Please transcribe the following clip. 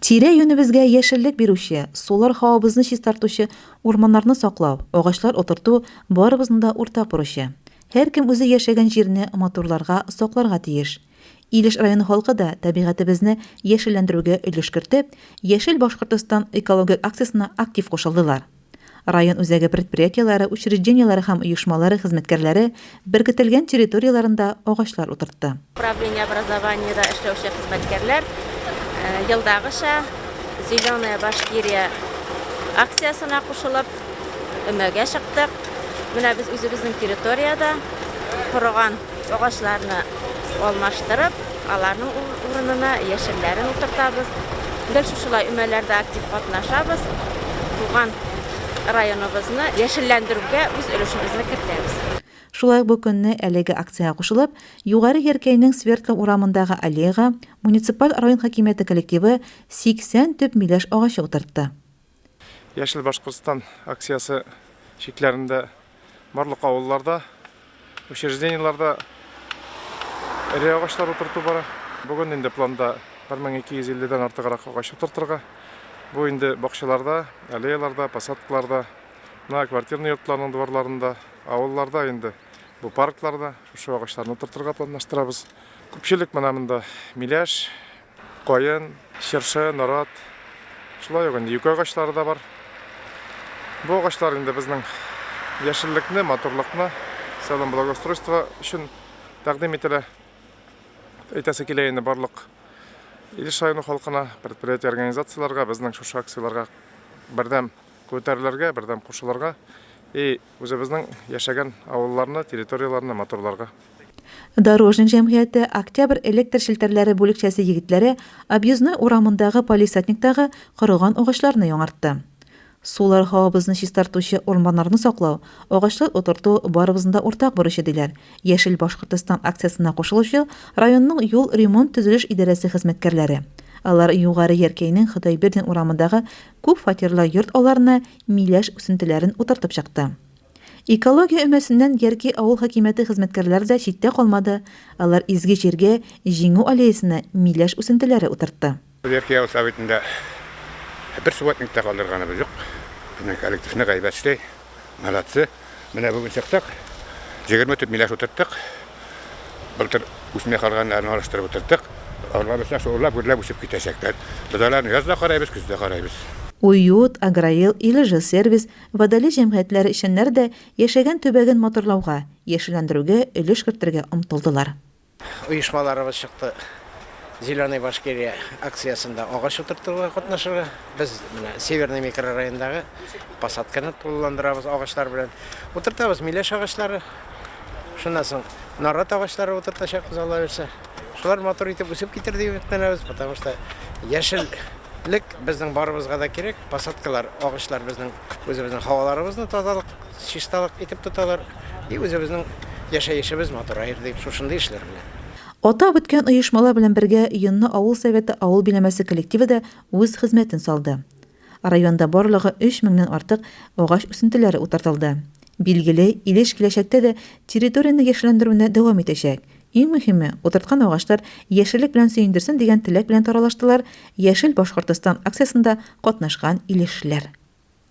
Тирә-юнебезгә яшеллек бирүче, сулар һавабызны чистартучы урманнарны саклау, агачлар утырту, барыбызның да уртак бурычы. Һәркем үзе яшәгән җирне матурларга, сакларга тиеш. Илеш районы халкы да табигатебезне яшелләндерүгә өлеш кертеп, Яшел Башкортостан экологик акциясенә актив кушылдылар. Район үзәге предприятиеләре, учреждениеләре һәм оешмалары хезмәткәрләре беркетелгән территорияләрендә агачлар утыртты. Управление образованиедә эшләүче хезмәткәрләр елдагыча Зеленая Башкирия акциясенә кушылып, өмәгә чыктык. Менә без үзебезнең территориядә корыган Агачларны алмаштырып, аларның урынына яшелләрен утыртабыз. Гел шушылай өмәләрдә актив катнашабыз. Туган районыбызны яшелләндерүгә үз өлешебезне кертәбез. Шулай ук бу көнне әлеге акциягә кушылып, Югары Яркәйнең Свердлов урамындагы аллеяга муниципаль район хакимияте коллективы 80 төп миләш агачы утыртты. Яшел Башкортстан акциясе чикләрендә барлык авылларда, учреждениеларда эре агачлар утырту бара. Бүген инде планда 1250 дән артыграк агач утыртырга. Бу инде бакчаларда, аллеяларда, посадкаларда, на квартирный йортларның дворларында, авылларда инде бу паркларда шушы агачларны утыртырга планлаштырабыз. Күпчелек менә монда миләш, Каен, чыршы, нарат, шулай ук инде юкә агачлары да бар. Бу агачлар инде безнең яшеллекне, матурлыкны, сәлам благоустройство өчен тәкъдим ителә. Әйтәсе килә инде барлык Илеш районы халкына, предприятие организацияләргә, безнең шушы акцияләргә бердәм күтәрелергә, бердәм кушылырга. И Үзебезнең яшәгән авылларны, территорияләрне матурларга. Дорожник җәмгыяте Октябрь электр челтәрләре бүлекчәсе егетләре Объездной урамындагы палисатниктагы корыган агачларны яңартты. Сулар һавабызны чистартучы урманнарны саклау, агачлар утырту, барыбызның да уртак бурычы, диләр Яшел Башкортостан акциясенә кушылучы районның юл ремонт-төзелеш идарәсе хезмәткәрләре. Алар Югары Яркәйнең Ходайбердин урамындагы күп фатирлы йорт алларына миләш үсентеләрен утыртып чыкты. Экология өмәсеннән Ярки авыл хакимияте хезмәткәрләре дә читтә калмады, алар изге җиргә, Җиңү аллеясына миләш үсентеләре утыртты. Ярки авыл Советында бер субботник та калдырганыбыз юк. Безнең коллектив нык әйбәт эшли, молодцы. Менә бүген чыктык. 20 төп миләш утырттык. Былтыр үсмей калганнарны алыштырып утырттык. Алар өчен шуллап гөрләп үсеп китәчәкләр. Без аларны яз да карыйбыз, көз дә карыйбыз. Уют, Агроел, Илжилсервис, Водолей җәмгыятьләре эшчәннәре дә яшәгән төбәген матурлауга, яшелләндерүгә өлеш кертергә омтылдылар. Оешмаларыбыз чыкты Зеленая Башкирия акциясендә агач утыртуга катнашырга. Без менә Северный микрорайондагы посадканы тулыландырабыз агачлар белән. Утыртабыз миләш агачлары. Шуннан соң нарат агачлары утыртачакбыз Алла бирсә. Шулар матур итеп үсеп китер дип өметләнәбез, потому что яшел лек безнең барыбызга да кирәк. Посадкалар, агачлар безнең үзебезнең һаваларыбызны тазалык Чисталык итеп тоталар, и үзебезнең яшәешебез матураер дип, шушындый эшләр белән. Атап үткән оешмалар белән бергә Йонны авыл Советы авыл биләмәсе коллективы да үз хезмәтен салды. Районда барлыгы өч меңнән артык агач үсентеләре утыртылды. Билгеле, Илеш киләчәктә дә территорияне яшелләндерүне дәвам итәчәк. Иң мөһиме, утырткан агачлар яшеллек белән сөендерсен дигән теләк белән таралыштылар Яшел Башкортстан акциясендә катнашкан илешлеләр.